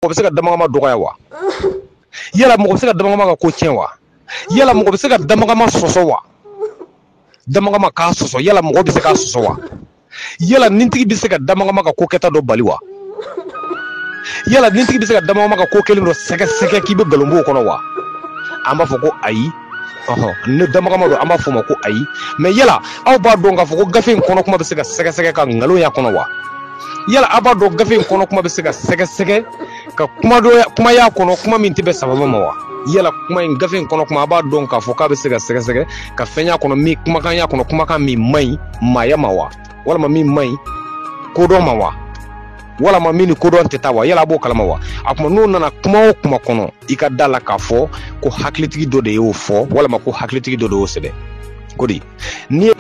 mɔgɔ bɛ se ka damagama dɔgɔya wa yala mɔgɔ bɛ se ka damagama ka ko tiɲɛ wa yala mɔgɔ bɛ se ka damagama sɔsɔ wa damagama k'a sɔsɔ yala mɔgɔ bɛ se k'a sɔsɔ wa yala nintigi bɛ se ka damagama ka ko kɛta dɔ bali wa yala nintigi bɛ se ka damagama ka ko kɛlen dɔ sɛgɛsɛgɛ k'i bɛ nkalon bɔ o kɔnɔ wa an b'a fɔ ko ayi ni damagama don an b'a fɔ ma ko ayi mais yala aw b'a dɔn k'a fɔ ko gafe in kɔnɔ kuma bɛ se ka sɛgɛsɛgɛ ka nkalon y'a kɔnɔ wa yala aw b'a dɔn gafe in kɔnɔ kuma bɛ se ka sɛgɛsɛgɛ ka kuma y'a kɔnɔ kuma min tɛ bɛn sababu ma wa yala kuma in gafe in kɔnɔ kuma a b'a dɔn k'a fɔ k'a bɛ se ka sɛgɛsɛgɛ ka fɛn y'a kɔnɔ min kumakan y'a kɔnɔ kumakan min man ɲi maaya ma wa walama min man ɲi kodɔn ma wa walama min ni kodɔn tɛ taa wa yala a b'o kalama wa a kuma n'o nana kuma o kuma kɔnɔ i ka da la k'a fɔ ko hakilitigi dɔ de y'o fɔ walama ko hakilitigi dɔ de y'o sɛbɛn ko di n'i ye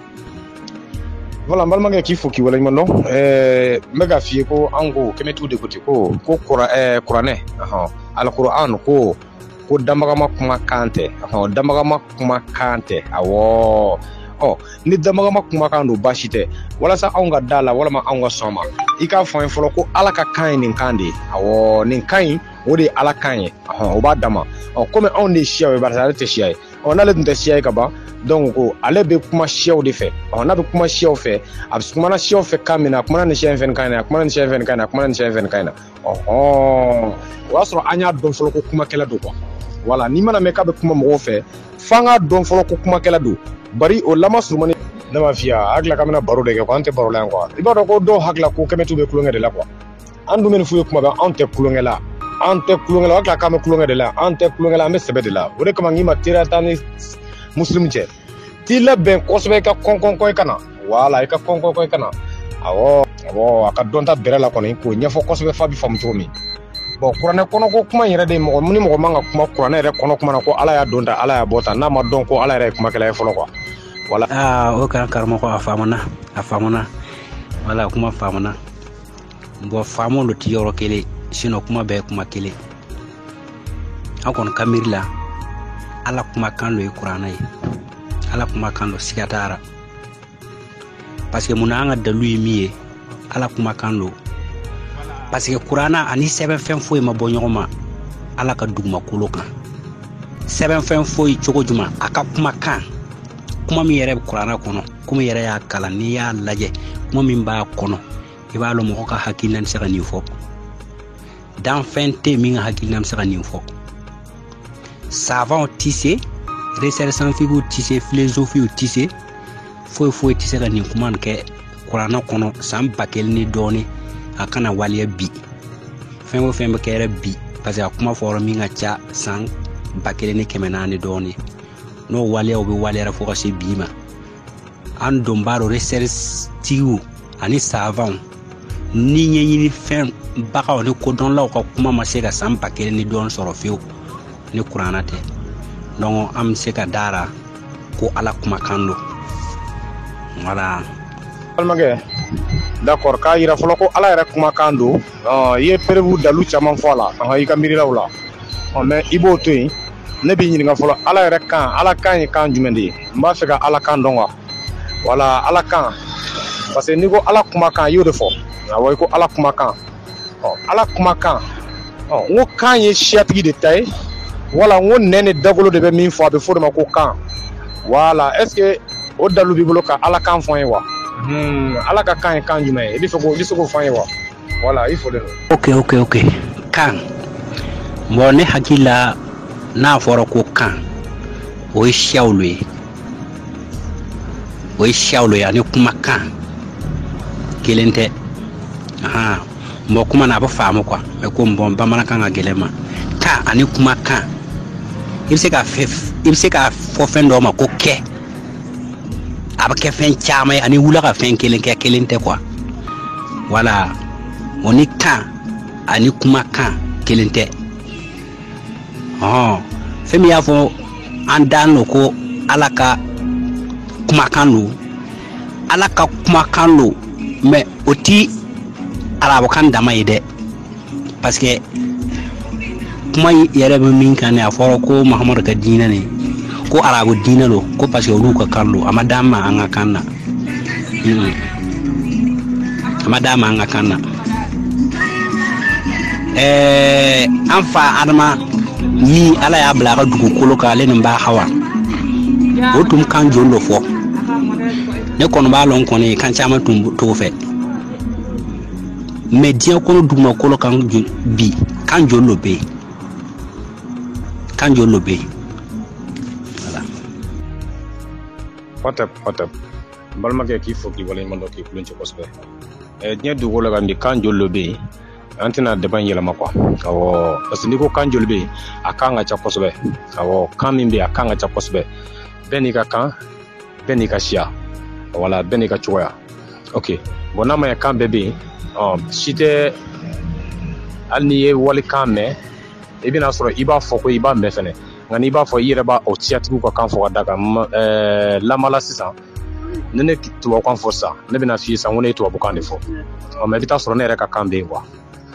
voilà n balimakɛ k'i fo k'i waleɲuman dɔn ɛɛ n bɛ k'a f'i ye ko an ko kɛmɛtigiw de ko ten ko ko kuranɛ alikuran ko ko damagama kuma kan tɛ damagama kuma kan tɛ awɔ ɔ ni damagama kuma kan don baasi tɛ walasa anw ka da la walama anw ka sɔn ma i k'a fɔ an ye fɔlɔ ko ala ka kan ye nin kan de ye awɔ nin kan in o de ye ala kan ye o b'a dama ɔ komi anw de ye siyaw ye barisa ale tɛ siya ye ɔ n'ale tun tɛ siya ye ka ban donc ko ale bɛ kuma siyaw de fɛ ɔ n'a bɛ kuma siyaw fɛ a bɛ kumana siyaw fɛ kan min na a kumana nin siya in fɛ kan in na a kumana nin siya in fɛ kan in na a kumana nin siya in fɛ kan in na o y'a sɔrɔ an y'a dɔn fɔlɔ ko kumakɛla don quoi voilà n'i mana mɛn k'a bɛ kuma mɔgɔw fɛ f'an k'a dɔn fɔlɔ ko kumakɛla don bari o lama surumani ne m'a f'i ye a hakili la k'an bɛna baro de kɛ quoi an tɛ baro la yan quoi i b'a dɔn ko dɔw hakili la ko kɛmɛtiw bɛ tulonkɛ de la quoi an dun bɛ nin f'u ye kuma bɛɛ anw tɛ tulonkɛ la an tɛ tulonkɛ la u hakili la k'an bɛ tulonkɛ de la an tɛ tulonkɛ la an bɛ sɛbɛ de la o de kama n k'i ma teriya t'an ni musilimu cɛ t'i labɛn kosɛbɛ i ka kɔnkɔnkɔ i ka na voilà i ka kɔnkɔnkɔ i ka na awɔ awɔ a ka dɔnta bɛrɛ la kɔni k'o ɲɛfɔ kosɛbɛ f'a b'i faamu cogo min bon kuranɛ kɔnɔko kuma in yɛrɛ de mɔgɔ ni mɔgɔ man ka kuma kuranɛ yɛrɛ kɔnɔ kuma na ko ala y'a don tan ala y'a bɔ tan n'a ma dɔn ko ala yɛrɛ ye kumakɛla ye fɔlɔ quoi voilà aa o kan karamɔgɔ a faamuna a faamuna voilà kuma faamuna bon faamu lo ti yɔrɔ kelen sinon kuma bɛɛ kuma kelen an kɔni ka miiri la ala kuma kan lo ye kurana ye ala kuma kan lo siga t'a la parce que mun na an ka dalu ye min ye ala kuma kan lo parce que kurana ani sɛbɛn fɛn foyi ma bɔ ɲɔgɔn ma ala ka dugumakolo kan sɛbɛn fɛn foyi cogo juma a ka kuma kan kuma min yɛrɛ bɛ kurana kɔnɔ komi i yɛrɛ y'a kalan n'i y'a lajɛ kuma min b'a kɔnɔ i b'a lɔn mɔgɔ ka hakilina bɛ se ka nin fɔ danfɛn tɛ min ka hakilina bɛ se ka nin fɔ savanw tɛ se recherches scientifiques tɛ se filozofuw tɛ se foyi foyi tɛ se ka nin kuma nin kɛ kurana kɔnɔ san ba kelen ni dɔɔnin a ka na waleya bi fɛn o fɛn bɛ kɛ yɛrɛ bi parce que a kuma fɔra min ka ca san ba kelen ni kɛmɛ naani dɔɔnin n'o waleyaw bɛ waleyara fo ka se bi ma an don b'a dɔn recherche tigiw ani savanw ni ɲɛɲini fɛn bagaw ni kodɔnlaw ka kuma ma se ka san ba kelen ni dɔɔni sɔrɔ fewu ni kurana tɛ donc an bɛ se ka da a ra ko ala kumakan don voilà balimakɛ d'accord k'a yira fɔlɔ ko ala yɛrɛ kumakan don i ye preuve dalu caman fɔ a la an i ka miirilaw la mais i b'o to yen ne b'i ɲininka fɔlɔ ala yɛrɛ kan ala kan ye kan jumɛn de ye n b'a fɛ ka ala kan dɔn quoi voilà ala kan parce que n'i ko ala kumakan i y'o de fɔ awa i ko ala kumakan ɔ ala kumakan ɔ n ko kan ye siyatigi de ta ye wala n ko nɛn ni dagolo de bɛ min fɔ a bɛ fɔ o de ma ko kan voilà est-ce que o dalu b'i bolo ka ala kan fɔ an ye wa hmm, ala ka kan ye kan jumɛn ye i bɛ se k'o fɔ an ye wa voilà i fɔlen don ok ok ok kan bon ne hakili la n'a fɔra ko kan o ye siyaw lo ye o ye siyaw lo ye ani kumakan kelen tɛ ahan mɔgɔ kuma na a bɛ faamu quoi mais ko bon bamanankan ka gɛlɛn ma kan ani kumakan i bɛ se ka i bɛ se ka fɔ fɛn dɔ ma ko kɛ a bɛ kɛ fɛn caman ye ani wula ka fɛn kelen kɛ kelen tɛ quoi voilà o ni kan ani kumakan kelen tɛ ɔn fɛn min y'a fɔ an danin lo ko ala ka kumakan lo ala ka kumakan lo mais o ti arabukan dama ye dɛ parce que kuma yɛrɛ bɛ min kan a fɔra ko mahamadu ka diinɛ nin ko arabu diinɛ lo ko parce que olu ka kan lo a ma d'an ma an ka kan na Mm. a ma d'an ma an ka kan na ɛɛ an fa adama min ala y'a bila a ka dugukolo kan ale nin ba hawa o tun kan joli lo fɔ ne kɔni b'a lɔn kɔni kan caman tun t'o fɛ mais diɲɛ kɔnɔ dugumakolo kan bi kan joli lo bɛ yen kan joli lo bɛ yen Hotep, Hotep. N balimakɛ k'i fo k'i waleɲuman dɔn k'i kulon cɛ kosɛbɛ eh, diɲɛ dugukolo kan bi kan joli lo bɛ yen an tɛna débat in yɛlɛma quoi awɔ parce que n'i ko kan joli bɛ yen a kan ka ca kosɛbɛ awɔ kan min bɛ yen a kan ka ca kosɛbɛ bɛɛ n'i ka kan bɛɛ n'i ka siya wala bɛɛ n'i ka cogoya ok bon n'a ma ɲɛ kan bɛɛ bɛ yen si tɛ hali n'i ye walikan mɛn i bɛna sɔrɔ i b'a fɔ ko i b'a mɛn fɛnɛ nka n'i b'a fɔ i yɛrɛ b'a o siyatigiw ka kan fɔ ka da kan ɛɛ lamala sisan ne ne tubabukan fɔ sisan ne bɛna f'i ye sisan ko ne ye tubabukan de fɔ ɔ mais i bɛ taa sɔrɔ ne yɛrɛ ka kan bɛ yen quoi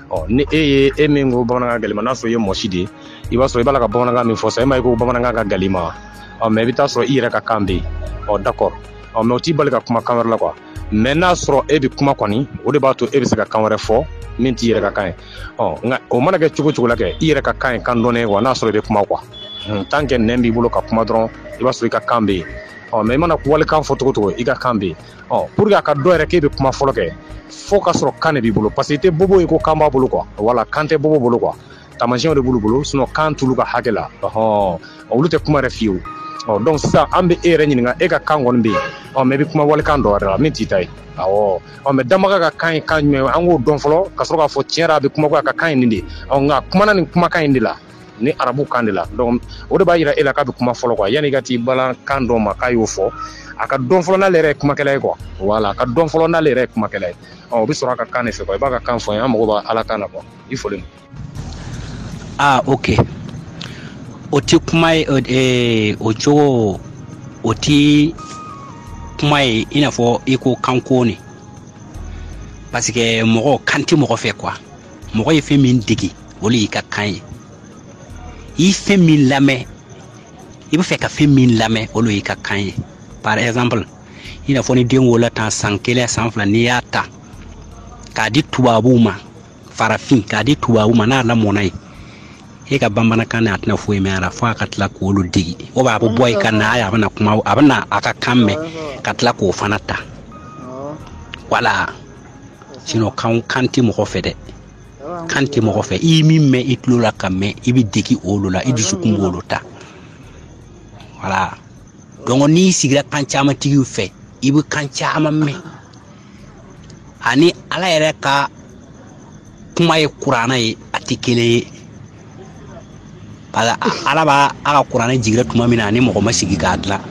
ɔ ni e ye e min ko bamanankan gɛlɛma n'a sɔrɔ i ye mɔsi de ye i b'a sɔrɔ i b'a la ka bamanankan min fɔ sisan e m'a ye ko bamanankan ka gɛlɛn ma ɔ mais i bɛ taa sɔrɔ i yɛrɛ ka kan bɛ yen ɔ d'accord ɔ mais o t'i bali ka kuma kan wɛrɛ la quoi mais n'a sɔrɔ e bɛ kuma kɔni o de b'a to e bɛ se ka kan wɛrɛ fɔ min t'i yɛrɛ ka kan ye nka o mana kɛ cogo cogo la kɛ i yɛrɛ ka kan ye kan dɔnnen ye quoi n'a sɔrɔ i bɛ kuma quoi tant que nɛn b'i bolo ka kuma dɔrɔn i b'a sɔrɔ i ka kan bɛ yen ɔ mais i mana walikan fɔ cogo cogo i ka kan bɛ yen ɔ pour que a ka dɔn yɛrɛ k'e bɛ kuma fɔlɔ kɛ fo ka sɔrɔ kan de b'i bolo parce que i tɛ bobo ye ko kan b'a bolo quoi voilà kan tɛ bobo bolo quoi taamasiyɛnw de b'olu bolo sinon kan t'olu ka hakɛ la ɔhɔn olu tɛ kuma yɛrɛ fiyewu ɔ donc sisan an bɛ e yɛrɛ ɲininka e ka kan kɔni bɛ yen ɔ mais i bɛ kuma walikan dɔ wɛrɛ la min t'i ta ye awɔ ɔ mais dabaga ka kan ye kan jumɛn an k'o dɔn fɔlɔ ka sɔrɔ k'a fɔ tiɲɛ a bɛ kuma a ka kan ye nin de ɔ nk'a kumana nin kumakan in de la ni arabu kan de la donc o de b'a jira e la k'a bɛ kuma fɔlɔ quoi yanni ka t'i bala kan dɔ ma k'a y'o fɔ a ka dɔn fɔlɔ n'ale yɛrɛ ye kumakɛla ye quoi voilà a ka dɔn fɔlɔ n'ale yɛrɛ ye kumakɛla ye ɔ o bɛ sɔrɔ a ka kan de fɛ i b'a ka kan fɔ n ye an mago bɛ ala kan na quoi i fɔ aa ok o tɛ kuma ye o ee, o cogo o tɛ kuma ye i n'a fɔ i ko kan kɔni parce que mɔgɔ kan tɛ mɔgɔ fɛ quoi mɔgɔ ye fɛn min dege o de y'i ka kan ye i ye fɛn min lamɛn i bɛ fɛ ka fɛn min lamɛn o de y'i ka kan ye par exemple i n'a fɔ ni den wolola tan san kelen san fila n'i y'a ta k'a di tubabuw ma farafin k'a di tubabu ma n'a lamɔna yen e ka bamanankan na a tɛna foyi mɛn a la fo a ka tila k'olu dege o b'a bɛ bɔ yen ka na a bɛna kuma a bɛna a ka kan mɛn ka tila k'o fana ta voilà sinon kan kan tɛ mɔgɔ fɛ dɛ kan tɛ mɔgɔ fɛ i min mɛn i tulo la ka mɛn i bɛ dege olu la i dusukun b'olu ta voilà donc n'i sigira kan caman tigiw fɛ i bɛ kan caman mɛn ani ala yɛrɛ ka kuma ye kuranɛ ye a tɛ kelen ye parce que ala b'a a ka kuranɛ jigira tuma min na a ni mɔgɔ ma sigi k'a dilan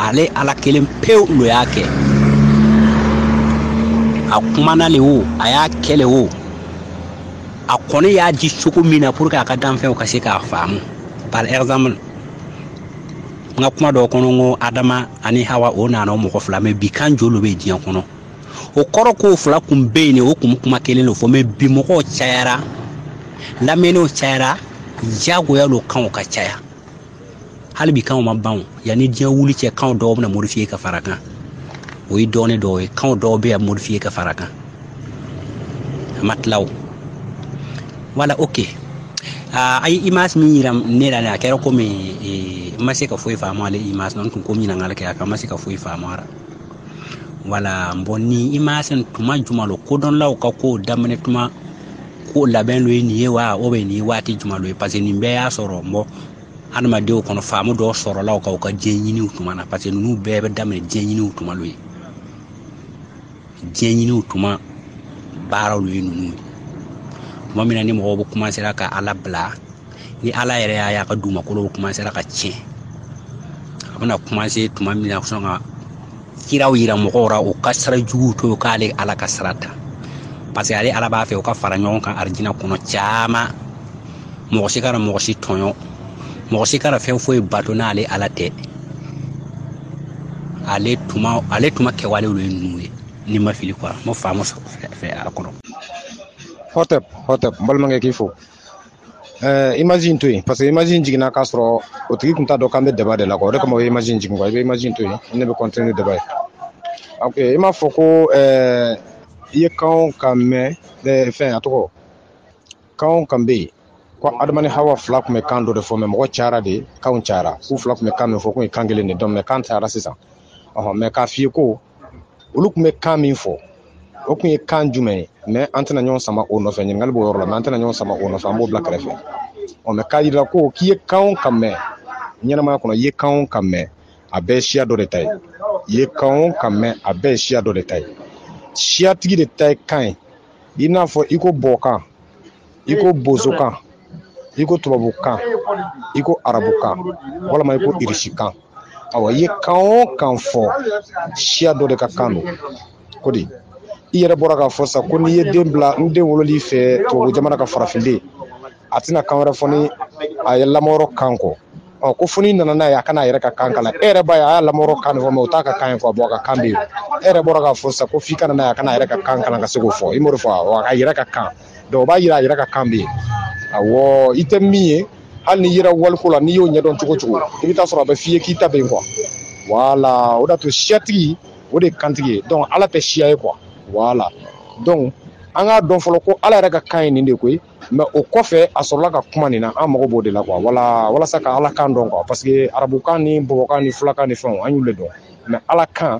ale ala kelen pewu lo y'a kɛ a kumana le o a y'a kɛ le o a kɔni y'a di cogo min na pour que a ka danfɛnw ka se k'a faamu par exemple n ka kuma dɔ kɔnɔ ko adama ani hawa o nana o mɔgɔ fila mais bi kan joli bɛ diɲɛ kɔnɔ o kɔrɔ k'o fila kun bɛ yen de o kun kuma kelen de fɔ mais bi mɔgɔw cayara lamɛnniw cayara jagoya lo kanw ka caya hali bi kanw ma ban yanni diɲɛ wuli cɛ kanw dɔw bɛna modifier ka fara kan o ye dɔɔnin dɔw ye kanw dɔw bɛna modifier ka fara kan ma tila o voilà ok uh, a ye image min yira ne la a kɛra komi e, n ma se ka foyi faamu ale image n tun ko ɲininkali kɛ a kan n ma se ka foyi faamu a ra voilà bon ni image n tuma juma lo kodɔnlaw ka kow daminɛ tuma ko labɛn lo ye nin ye wa ou bien nin ye waati juma lo ye parce que nin bɛɛ y'a sɔrɔ n bɔ adamadenw kɔnɔ faamu dɔw sɔrɔla u ka u ka diɲɛ ɲiniw tuma na parce que ninnu bɛɛ bɛ daminɛ diɲɛ ɲiniw tuma lo ye diɲɛ ɲiniw tuma baaraw lo ye ninnu ye tuma min na ni mɔgɔw bɛ commencera ka ala bila ni ala yɛrɛ y'a y'a ka dugumakolo bɛ commencera ka tiɲɛ a bɛna commencer tuma min na sɔn ka kiraw yira mɔgɔw ra u ka sira juguw to k'ale ala ka sira ta parce que ale ala b'a fɛ u ka fara ɲɔgɔn kan arijina kɔnɔ caman mɔgɔ si kana mɔgɔ si tɔɲɔ mɔgɔ si kana fɛn foyi bato n'ale ala tɛ ale tuma ale tuma kɛwalew lo ye ninnu ye ni n ma fili quoi mo faamu fɛ a kɔnɔ hotep hotep n balimakɛ k'i fo eh, image in to yen parce que image in jiginna k'a sɔrɔ o tigi tun t'a dɔn k'an bɛ débat de la quoi o de kama o ye image in jigin quoi i bɛ image in to yen ne bɛ continuer débat ye ok i m'a fɔ ko eh, i ye kan o kan mɛn eh, fɛn a tɔgɔ kan o kan bɛ yen ko adama ni hawa fila kun bɛ kan dɔ de fɔ mais mɔgɔ cayara de kanw cayara k'u fila kun bɛ kan min fɔ k'u ye kan kelen de dɔn mais kan cayara sisan ɔhɔn mais k'a f'i ye ko olu kun bɛ kan min fɔ o kun ye kan jumɛn ye mais an tɛna ɲɔgɔn sama o nɔfɛ ɲininkali b'o yɔrɔ la mais an tɛna ɲɔgɔn sama o nɔfɛ an b'o bila kɛrɛfɛ ɔ mais k'a yira ko k'i ye kan o kan mɛn ɲɛnamaya kɔnɔ i ye kan o kan mɛn a bɛɛ ye siya dɔ de ta ye i ye kan o kan mɛn a bɛɛ ye siya dɔ de ta ye siyatigi de ta ye kan ye i n'a fɔ i ko bɔkan i ko bozokan i ko tubabukan i ko arabukan walima i ko irisikan awa i ye kan o kan fɔ siya dɔ de ka kan don ko di i yɛrɛ bɔra k'a fɔ sa ko n'i ye den bila ni den wolol'i fɛ tubabu jamana kan farafinden a tɛna kan wɛrɛ fɔ ni a ye lamɔyɔrɔ kan kɔ ɔ ko fo n'i nana n'a ye a ka na a yɛrɛ ka kan kalan e yɛrɛ b'a ye a y'a lamɔyɔrɔ kan de fɔ mais o t'a ka kan ye fɔ a bɔ a ka kan bɛ yen e yɛrɛ bɔra k'a fɔ sisan ko f'i ka na n'a ye a ka na a yɛrɛ ka kan kalan ka se k'o fɔ i m'o de fɔ wa a ka yɛrɛ ka kan donc o b'a yira a yɛrɛ ka kan bɛ yen awɔ i tɛ min ye hali n'i yera waliko la n'i y'o ɲɛdɔn cogo o cogo i bɛ t'a sɔrɔ a bɛ f'i ye k'i ta bɛ yen quoi voilà o de y'a to siyatigi o de ye kantigi ye donc ala tɛ siya ye quoi voilà donc an k'a dɔn fɔlɔ ko ala yɛrɛ ka kan ye nin de ko ye mɛ o kɔfɛ a sɔrɔla ka kuma nin na an mago b'o de la wala walasa ka ala kan dɔn quoi parce que arabukan ni bɔbɔkan ni fulakan ni fɛnw an y'olu de dɔn mɛ ala kan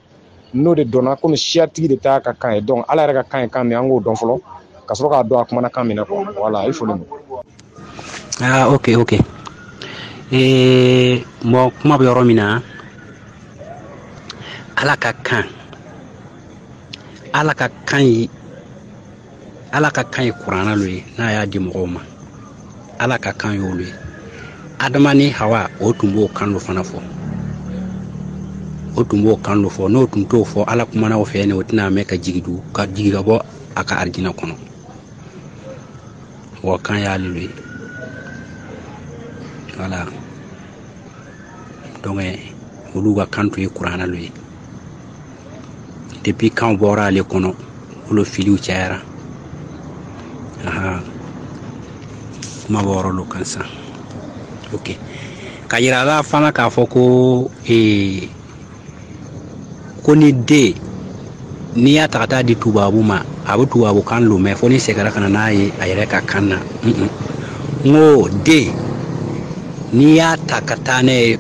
n'o de dɔnna kɔmi siyatigi de t'a ka kan ye donc ala yɛrɛ ka kan ye kan min an k'o dɔn fɔlɔ ka sɔrɔ k'a dɔn a kumana kan min na quoi voilà i foli aa ok ok mɔgɔ kuma bɛ yɔrɔ min na ala ka kan ala ka kan ye ala ka kan ye kurana lo ye n'a y'a di mɔgɔw ma ala ka kan y'olu ye adama ni hawa o tun b'o kan lo fana fɔ o tun b'o kan lo fɔ n'o tun t'o fɔ ala kumana o fɛ ne o tɛna mɛn ka jigi du ka jigi ka bɔ a ka arijina kɔnɔ wa kan y'ale lo ye voilà donc olu ka kan tun ye kurana lo ye depuis kanw bɔra ale kɔnɔ olu filiw cayara kuma b'o yɔrɔ lo kan sa ok ka yira la fana k'a fɔ ko ee ko ni den n'i y'a ta ka taa di tubabu ma a bɛ tubabukan lo mɛn fo n'i segira ka na n'a ye a yɛrɛ ka kan na n ko den n'i y'a ta ka taa n'a ye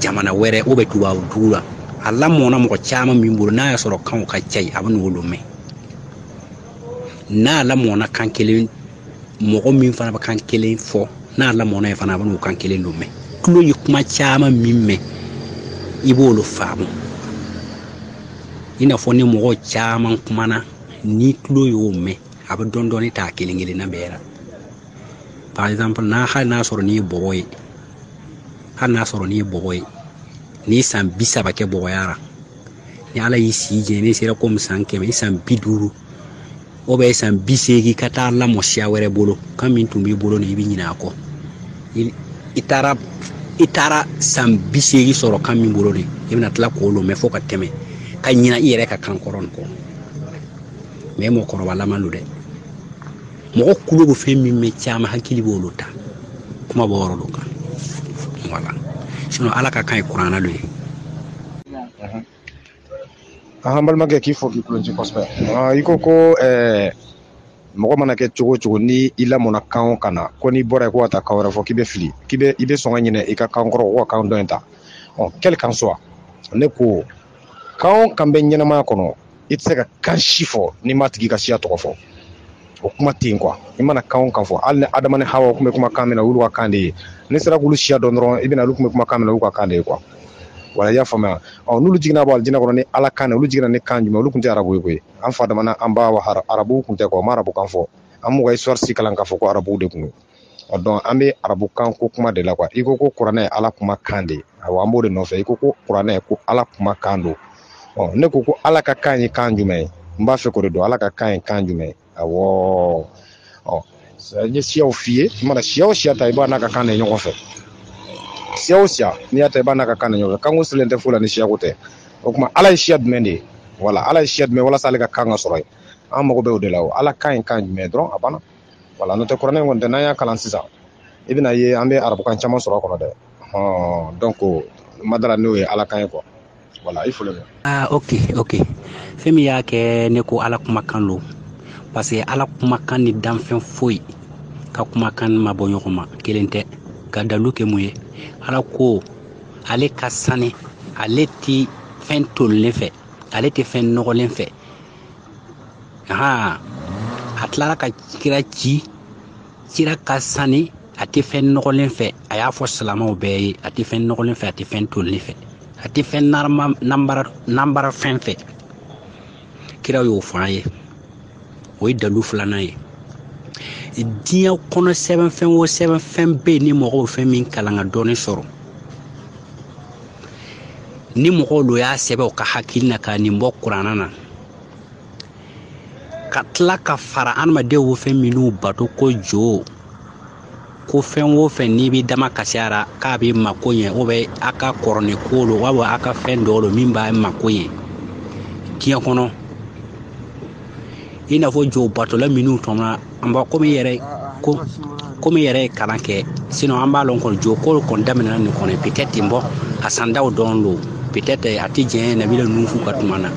jamana wɛrɛ ou bien tubabu dugu la a lamɔna mɔgɔ caman min bolo n'a y'a sɔrɔ kanw ka ca yen a bɛ n'olu mɛn n'a lamɔna kan kelen mɔgɔ min fana bɛ kan kelen fɔ n'a lamɔna yen fana a bɛ n'o kan kelen lo mɛn tulo ye kuma caman min mɛn i b'olu faamu i n'a fɔ ni mɔgɔ caman kumana ni tulo y'o mɛn a bɛ dɔɔnin dɔɔnin ta kelen kelenna bɛɛ la par exemple n'a hali n'a sɔrɔ n'i ye bɔbɔ ye hali n'a sɔrɔ n'i ye bɔbɔ ye n'i ye san bi saba kɛ bɔbɔya ra ni ala y'i si jɛ n'i sera komi san kɛmɛ i san bi duuru ou bien san bi seegin ka taa lamɔ siya wɛrɛ bolo kan min tun b'i bolo ni i bɛ ɲinɛ a kɔ i taara i taara san bi seegin sɔrɔ kan min bolo de i bɛna tila k'o lo mɛn fo ka tɛmɛ ka ɲina i yɛrɛ ka kan kɔrɔ nin kɔ mɛ mɔgɔkɔrɔba lama lo dɛ mɔgɔ tulo bɛ fɛn min mɛn caman hakili b'olu ta kuma b'o yɔrɔ lo kan voilà sinon ala ka kan ye kuranna lo ye an balimakɛ k'i fo k'i kulonci kosɛbɛ ah, i ko ko eh, mɔgɔ mana kɛ cogo o cogo ni i lamɔna kan o kan na ko n'i bɔra yen ko ka taa kan wɛrɛ fɔ k'i bɛ fili k'i bɛ i bɛ sɔn ka ɲinɛ i ka kan kɔrɔ kɔ ka kan dɔ in ta ɔ quel qu'en soit ne ko kan o kan bɛ ɲɛnamaya kɔnɔ i tɛ se ka kan si fɔ n'i m'a tigi ka siya tɔgɔ fɔ o kuma tɛ yen quoi i mana kan o kan fɔ hali ni adama ni hawa tun bɛ kuma kan min na olu ka kan de ye n'i sera k'olu siya dɔn dɔrɔn i bɛna olu tun bɛ kuma kan min olu ka kan de ye quoi voilà i y'a faamuya ɔ n'olu jiginna bɔ alijinɛ kɔnɔ ni ala kan olu jiginna ni kan jumɛn olu tun tɛ arabu ye koyi an fa adama n'an ba arabuw tun tɛ quoi ma arabu kan fɔ an m'u ka histoire si kalan k'a fɔ ko arabuw de tun don donc an bɛ arabukan ko kuma de la quoi i ko ko kuranɛ ye ala kuma kan de ye awa an b'o de nɔfɛ i ko ko kuranɛ ko ala kuma kan don ɔ ne ko ko ala ka kan ye kan jumɛn ye n b'a fɛ k'o de dɔn ala ka kan ye kan jumɛn ye awɔ ɔ n ye siyaw f'i ye i mana siya o siya ta i b'a n'a ka kan de ɲɔgɔn fɛ siya o siya n'i y'a ta i b'a n'a ka kan de ɲɔgɔn fɛ kanko silen tɛ foyi la ni siyako tɛ o tuma ala ye siya jumɛn de ye voilà ala ye siya jumɛn walasa ale ka kan ka sɔrɔ ye an mago bɛ o de la o ala kan ye kan jumɛn ye dɔrɔn a banna voilà n'o tɛ kuranɛ kɔni tɛ n'an y'a kalan sisan i bɛn'a ye an bɛ arabukan caman sɔrɔ a kɔnɔ dɛ hɔn donc ma da a ra n'o ye ala kan ye quoi voilà i foli bɛ ah ok ok fɛn min y'a kɛ ne ko ala kumakan lo parce que ala kumakan ni danfɛn foyi ka kumakan ma bɔ ɲɔgɔn ma kelen tɛ ka dalu kɛ mun ye ala ko ale ka sani ale ti fɛn tolilen fɛ ale tɛ fɛn nɔgɔlen fɛ aa a tilara ka kira ci kira ka sani a tɛ fɛn nɔgɔlen fɛ a y'a fɔ silamaw bɛɛ ye a tɛ fɛn nɔgɔlen fɛ a tɛ fɛn tolilen fɛ a tɛ fɛn nanbara fɛn fɛ kira y'o fɔ an ye o ye dalu filanan ye diɲɛ kɔnɔ sɛbɛnfɛn o sɛbɛnfɛn bɛ yen ni mɔgɔw fɛn min kalan ka dɔnni sɔrɔ ni mɔgɔw lo y'a sɛbɛn u ka hakili na ka nin bɔ kuranna na ka tila ka fara adamadenw bɛ fɛn minnu bato ko jo ko fɛn o fɛn n'i b'i dama kasi a ra k'a b'i mako ɲɛ o bɛ a ka kɔrɔlen ko lo wa a ka fɛn dɔ lo min b'a mako ɲɛ diɲɛ kɔnɔ i n'a fɔ jo batola minnu tɛmɛna an b'a komi yɛrɛ ko komi yɛrɛ ye kalan kɛ sinon an b'a lɔn kɔni jo ko kɔni daminɛna nin kɔnɔ peut-être ten bɔ a sandaw dɔrɔn don peut-être a tɛ jɛn nabila nufu ka tuma na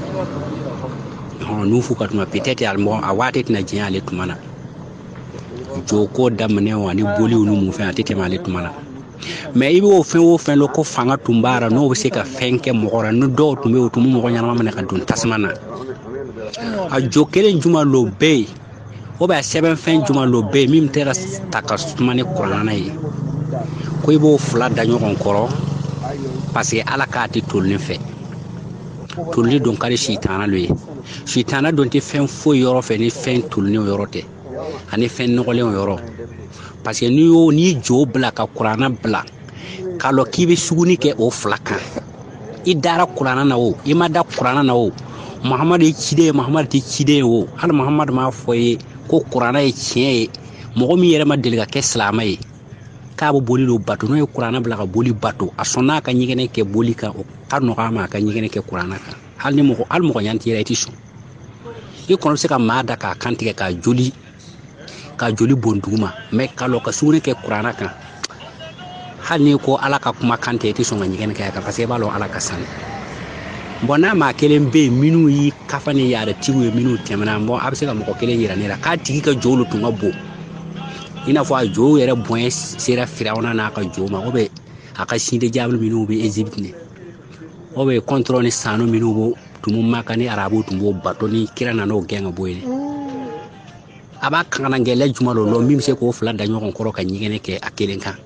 nufu ka tuma peut-être a mɔgɔ a waati tɛna jɛn ale tuma na jo ko daminɛ ani boliw ni mun fɛn a tɛ tɛmɛ ale tuma na mais i b'o fɛn o fɛn dɔn ko fanga tun b'a la n'o bɛ se ka fɛn kɛ mɔgɔ la ni dɔw tun bɛ yen o tun bɛ mɔgɔ ɲɛnama minɛ ka don tasuma na a jo kelen juman lo bɛ yen o bɛ sɛbɛnfɛn juman lo bɛ yen min tɛ ka ta ka suma ni kuranna ye ko i b'o fila da ɲɔgɔn kɔrɔ parce que ala k'a tɛ tolilen fɛ tolilen don ka di sitana lo ye sitana don tɛ fɛn foyi yɔrɔ fɛ ni fɛn tolilenw yɔrɔ tɛ ani fɛn nɔgɔlenw yɔrɔ parce que n'i y'o n'i jo bila ka kuranna bila ka lɔ k'i bɛ suguni kɛ o fila kan i dara kuranna na o i ma da kuranna na o mahamadu ye ciden ye mahamadu tɛ ciden ye o hali mahamadu m'a fɔ i ye ko kuranna ye tiɲɛ ye mɔgɔ min yɛrɛ ma deli ka kɛ silamɛ ye k'a bɛ boli don bato n'o ye kuranna bila ka boli bato a sɔnna a ka ɲɛgɛnɛ kɛ boli kan o ka nɔgɔ a ma a ka ɲɛgɛnɛ kɛ kuranna kan hali ni mɔgɔ hali mɔgɔ ɲɛ t'i la i tɛ sɔn i kɔni bɛ se ka maa da k'a kan tigɛ k'a joli k'a joli bɔn duguma mɛ ka lɔ ka suguni kɛ kuranna kan hali n'i ko ala ka kuma kan tɛ i tɛ sɔn ka ɲɛgɛnɛ kɛ a kan paseke i b'a lɔn ala ka sani bɔn n'a maa kelen bɛ yen minnu y'i kafa ni yɛrɛ tigiw ye minnu tɛmɛna bɔn a bɛ se ka mɔgɔ kelen yira ne la k'a tigi ka jow tun ka bon i n'a fɔ a jow yɛrɛ bonya sera firawuna n'a ka jow ma o bɛ a ka sinde jaabi minnu bɛ ezibiti o bɛ kɔntɔrɔ ni sanu minnu b'o tun bɛ maka ni arabu tun b'o bato ni kira nana o gɛn ka bɔ yen a b'a kankanangɛlɛ juma dɔ lo min bɛ se k'o fila da ɲɔgɔn kɔrɔ ka ɲɛgɛnɛ kɛ a kelen kan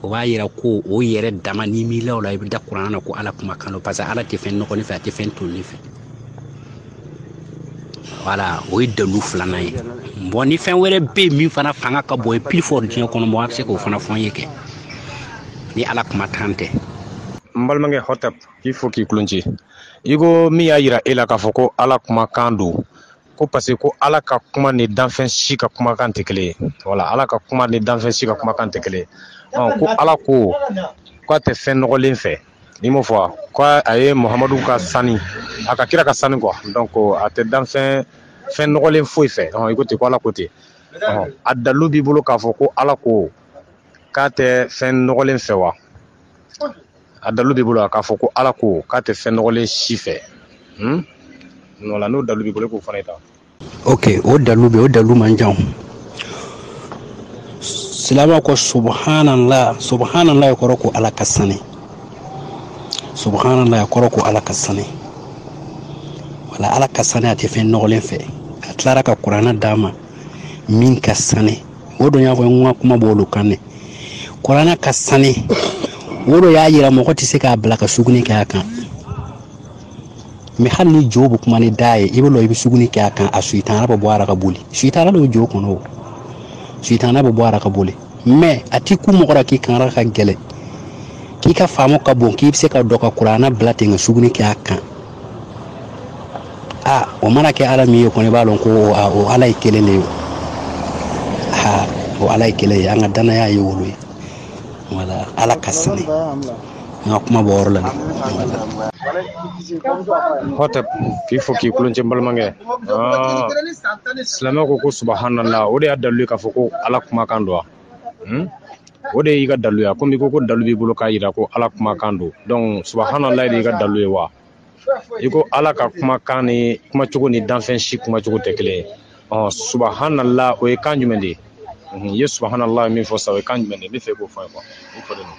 o b'a yira ko o yɛrɛ dama n'i miirila o la i bɛ da kuranna na ko ala kuma kan don parce que ala tɛ fɛn nɔgɔlen fɛ a tɛ fɛn tolilen fɛ wala o ye dalu filanan ye bɔn ni fɛn wɛrɛ bɛ yen min fana fanga ka bon ye plus fort diɲɛ kɔnɔ bɔn a bɛ se k'o fana fɔ n ye kɛ ni ala kuma kan tɛ n balimakɛ hɔtɛp k'i fo k'i kulonci i ko min y'a yira e la k'a fɔ ko ala kumakan don ko parce que ko ala ka kuma ni danfɛn si ka kumakan tɛ kelen ye wala ala ka kuma ni danfɛn si ka kumakan tɛ kelen ye ko ala ko k'a tɛ fɛn nɔgɔlen fɛ n'i m'a fɔ k'a ye muhamadu ka sani a ka kira ka sani quoi donc a tɛ danfɛn nɔgɔlen foyi fɛ i ko ten ko ala ko ten a dalu b'i bolo k'a fɔ ko ala ko k'a tɛ fɛn nɔgɔlen fɛ wa a dalu b'i bolo a k'a fɔ ko ala ko k'a tɛ fɛn nɔgɔlen si fɛ hmm? wala n'o dalu b'i bolo k'o fana ta ok o dalu bɛ o dalu man jan silama ko subhanallah subhanallahi a kɔrɔ ko ala ka sani subhanallahi a kɔrɔ ko ala ka sani wala ala ka sani a tɛ fɛn nɔgɔlen fɛ a tilara ka kuranna d'a ma min ka sani o don y'a fɔ n ka kuma b'olu kan dɛ kuranna ka sani o don y'a yira mɔgɔ tɛ se k'a bila ka suguni kɛ a kan mɛ hali ni jo bɛ kuma ni da ye i bɛ lɔ i bɛ suguni kɛ a kan a sitana bɛ bɔ a ra ka boli sitana bɛ jo kɔnɔ o sitana bɛ bɔ a ra ka boli mɛ a tɛ kun mɔgɔ la k'i kangara ka gɛlɛn k'i ka faamu ka bon k'i bɛ se ka dɔ ka kuranna bila ten ka suguni kɛ a kan aa o mana kɛ ala min ye kɔni i b'a dɔn ko a, o ala ye kelen de ye ha o ala ye kelen ye an ka dannaya ye o lo ye wala ala ka sani n ka kuma b'o yɔrɔ la hɔtɛp k'i fo k'i kulonci n balimakɛ Aa, silamɛ ko ko subhanallah o de y'a dalu ye k'a fɔ ko ala kumakan don wa hmm? o de y'i ka dalu ye komi i ko ko dalu b'i bolo k'a yira ko ala kumakan don donc subahanallahi de y'i ka dalu ye wa i ko ala ka kumakan ni kumacogo ni danfɛn si kumacogo tɛ kelen ye ɔ subahanallah o ye kan jumɛn de ye hmm, i ye subahanallah min fɔ sa o ye kan jumɛn de ye n bɛ fɛ i k'o fɔ n ye quoi i folen don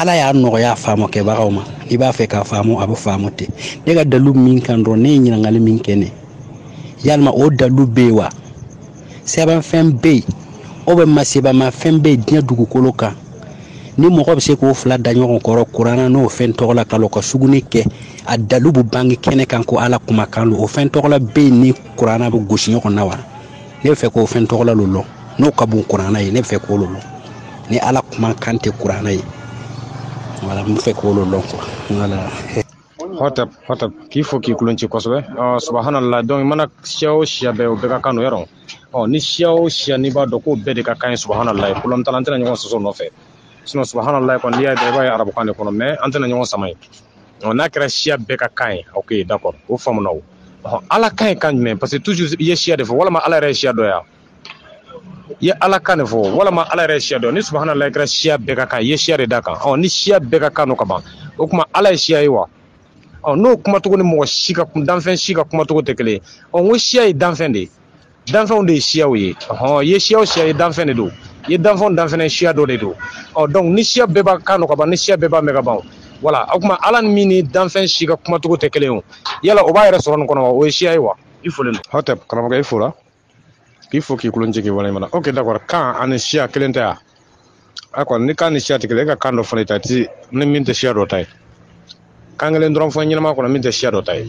ala y'a nɔgɔya faamu kɛbagaw ma i b'a fɛ k'a faamu a bɛ faamu ten ne ka dalu min kan dɔrɔn ne ye ɲininkali min kɛ ne yalima o dalu bɛ yen wa sɛbɛnfɛn bɛ yen o bɛ masebamafɛn bɛ yen diɲɛ dugukolo kan ni mɔgɔ bɛ se k'o fila da ɲɔgɔn kɔrɔ kuranna n'o fɛn tɔgɔ la ka ka sugunɛ kɛ a dalu bɛ bange kɛnɛ kan ko ala kumakan don o fɛn tɔgɔ la bɛ yen ni kuranna bɛ gosi ɲɔgɔn na wa ne bɛ fɛ k'o fɛn tɔgɔla lo lɔn n'o ka bon kuranna ye ne bɛ fɛ k'o lo lɔn ni ala kumakan tɛ kuranna ye voilà n bɛ fɛ k'o lo lɔn quoi voilà hɔtɛp hɔtɛp k'i fo k'i kulon ci kosɛbɛ ɔ subahanala donc i mana siya o siya bɛɛ o bɛɛ ka kan no yɔrɔ ɔ ni siya o siya n'i b'a dɔn k'o bɛɛ de ka kan ye subahanala ye problème t'a la an tɛna ɲɔgɔn sɔsɔ nɔfɛ sinon subahanala kɔni n'i y'a ye dɔrɔn i b'a ye arabukan de kɔnɔ mais an tɛna ɲɔgɔn sama yen ɔ n'a kɛra siya bɛɛ ka kan ye ok d'accord o faamuna o ɔ ala kan ye kan jumɛn parce que toujours i ye siya de fɔ walama ala yɛrɛ ye siya dɔ ya i ye ala kan de fɔ walama ala yɛrɛ ye siya dɔ ni subahanalahi kɛra siya bɛɛ ka kan i ye siya de da kan ɔ ni siya bɛɛ ka kan no ka ban o kuma ala ye siya ye wa ɔ n'o kumacogo ni mɔgɔ si ka danfɛn si ka kumacogo tɛ kelen ɔ n ko siya ye danfɛn de ye danfɛnw de ye siyaw ye ɔhɔn i ye siya o siya ye danfɛn de don i ye danfɛn o danfɛn ye siya dɔ de don ɔ donc ni siya bɛɛ b'a kan no ka ban ni siya bɛɛ b'a mɛn ka ban voilà o kuma ala ni min ni danfɛn si ka kumacogo tɛ kelen o yala o b'a yɛrɛ sɔrɔ nin kɔnɔ wa o ye siya ye wa i folen don hɔtɛp karamɔgɔkɛ i fo la k'i fo k'i kulon ci k'i waleɲuman dɔn ok d'accord kan ani siya kelen tɛ a a kɔni ni kan ni siya tɛ kelen e ka kan dɔ fana ta ti ni min tɛ siya dɔ ta ye kan kelen dɔrɔn fɔ ɲɛnama kɔnɔ min tɛ siya dɔ ta ye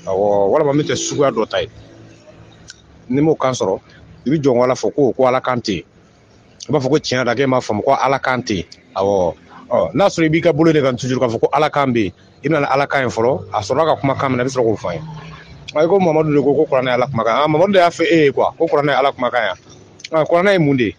awɔ walama min tɛ suguya dɔ ta ye n'i m'o kan sɔrɔ i bɛ jɔn ala fɔ ko ko ala kan tɛ yen i b'a fɔ ko tiɲɛ da k'e m'a faamu ko ala kan tɛ yen awɔ n'a sɔrɔ i b'i ka bolo de kan toujours k'a fɔ ko ala kan bɛ yen i bɛna ala kan ye fɔlɔ a sɔrɔla ka kumakan minɛ i bɛ sɔrɔ k'o fɔ an ye ayi ko mamadu de ko ko kuranɛ ye ala kumakan mamadu de y'a fɔ e ye quoi ko kuranɛ ye ala kumakan ya kuranɛ ye mun de ye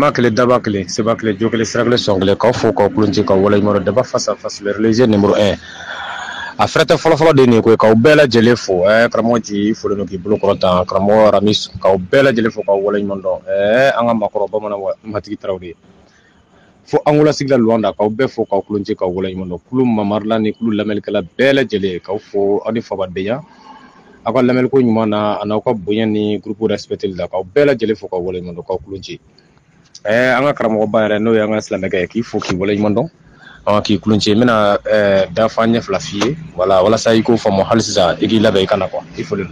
Ma kelen daba kelen seba kelen jo kelen sira kelen sɔn kelen k'aw fo k'aw kulon ci k'aw waleɲuman dɔn débat face à face le religieux numéro un a fɛrɛtɛ fɔlɔfɔlɔ de nin ye koyi k'aw bɛɛ lajɛlen fo karamɔgɔ nci i folen don k'i bolo kɔrɔta karamɔgɔ ramis k'aw bɛɛ lajɛlen fo k'aw waleɲuman dɔn an ka maakɔrɔ bamanan matigi tarawele de ye fo angola sigida luwanda k'aw bɛɛ fo k'aw kulon ci k'aw waleɲuman dɔn kulu mamarila ni kulu lamɛnnikɛla bɛɛ lajɛlen k'aw fo aw ni fabadenya aw ka lamɛnliko ɲuman na an'aw ka bonya ni groupe respecteli la k'aw bɛɛ lajɛlen fo k'aw waleɲuman dɔn k'aw kulon ci ɛɛ an ka karamɔgɔba yɛrɛ n'o ye an ka silamɛkɛ ye k'i fo k'i waleɲuman dɔn ɔn k'i kulon ci n bɛna ɛɛ dafan ɲɛ fila f'i ye wala walasa i k'o faamu hali sisan i k'i labɛn i ka na quoi i folen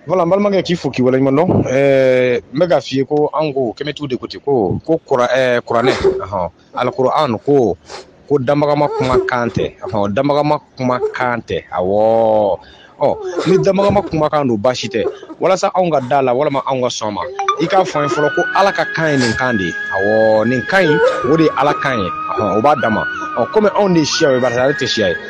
Voilà n balimakɛ k'i fo k'i waleɲuman dɔn ɛɛ n bɛ k'a f'i ye ko an ko kamɛtiw de ko ten ko ko kuranɛ alikuran ko ko damagama kuma kan tɛ damagama kuma kan tɛ awɔ ni damagama kuma kan don baasi tɛ walasa anw ka d'a la walama anw ka sɔn ma i k'a fɔ an ye fɔlɔ ko ala ka kan ye nin kan de ye a nin kan in o de ye ala kan ye o b'a da ma ɔ kɔmi anw de siya ye bari ale tɛ siya ye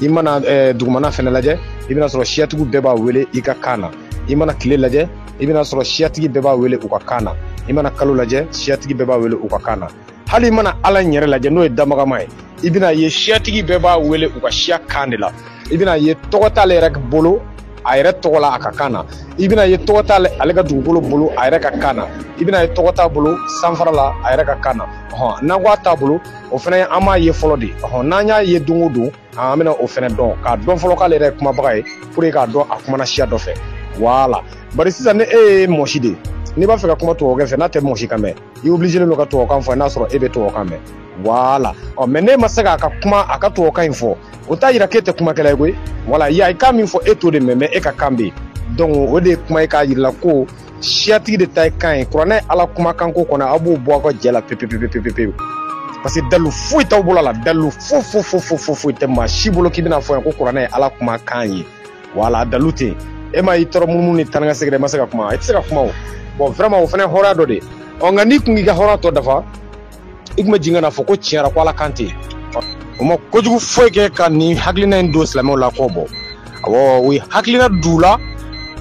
i mana eh, dugumana fɛnɛ lajɛ i bɛna sɔrɔ siyatigiw bɛɛ b'a wele i ka kan na i mana tile lajɛ i bɛna sɔrɔ siyatigi bɛɛ b'a wele u ka kan na i mana kalo lajɛ siyatigi bɛɛ b'a wele u ka kan na hali i mana ala in yɛrɛ lajɛ n'o ye damagama ye i bɛna ye siyatigi bɛɛ b'a wele u ka siya kan de la i bɛna ye tɔgɔ t'ale yɛrɛ bolo a yɛrɛ tɔgɔ la a ka kan na i bɛna ye tɔgɔ t'ale ale ka dugukolo bolo a yɛrɛ ka kan na i bɛna ye tɔgɔ t'a bolo sanfara la a yɛrɛ ka kan na hɔn n'an ko a t'a bolo o fana an m'a ye fɔlɔ dɛ ɔhɔn n'an y'a ye don o don an bɛna o fana dɔn k'a dɔn fɔlɔ k'ale yɛrɛ ye kumabaga ye pour k'a dɔn a kumana siya dɔ fɛ voilà bari sisan ni e ye mɔsi de n'i b'a fɛ ka kuma tubabukɛ fɛ n'a tɛ mɔsi kan mɛn i obligélen don ka tubabukan fɔ n'a sɔrɔ e bɛ tubabukan mɛn voilà ɔ mais n'e ma se k'a ka kuma a ka tubabukan in fɔ o t'a yira k'e tɛ kumakɛla ye koyi voilà a ye kan min fɔ e t'o de mɛn mais e ka kan bɛ yen donc o de ye kuma ye k'a yir'i la ko siyatigi de ta ye kan ye kuranɛ ye ala kumakanko kɔnɔ aw b'o bɔ aw ka jɛ la pepepepepepepewu parce que dalu foyi t'aw bolo la dalu fo fo fo fo fo foyi tɛ maa si bolo k'i bɛna fɔ yan ko kuranɛ ye ala kuma kan ye voilà dalu tɛ yen e ma y'i tɔɔrɔ munumunu ni taanikasegin i ma se ka kuma i tɛ se ka kuma ɔ bon vraiment o fana hɔrɔnya dɔ de ɔ nka n'i kun k'i ka hɔrɔnya tɔ dafa i kun bɛ jigin ka n'a fɔ ko tiɲɛ ra ko ala kan tɛ o ma kojugu foyi kɛ ka nin hakilina in don silamɛw la kɔ bɔ awɔ u ye hakilina d'u la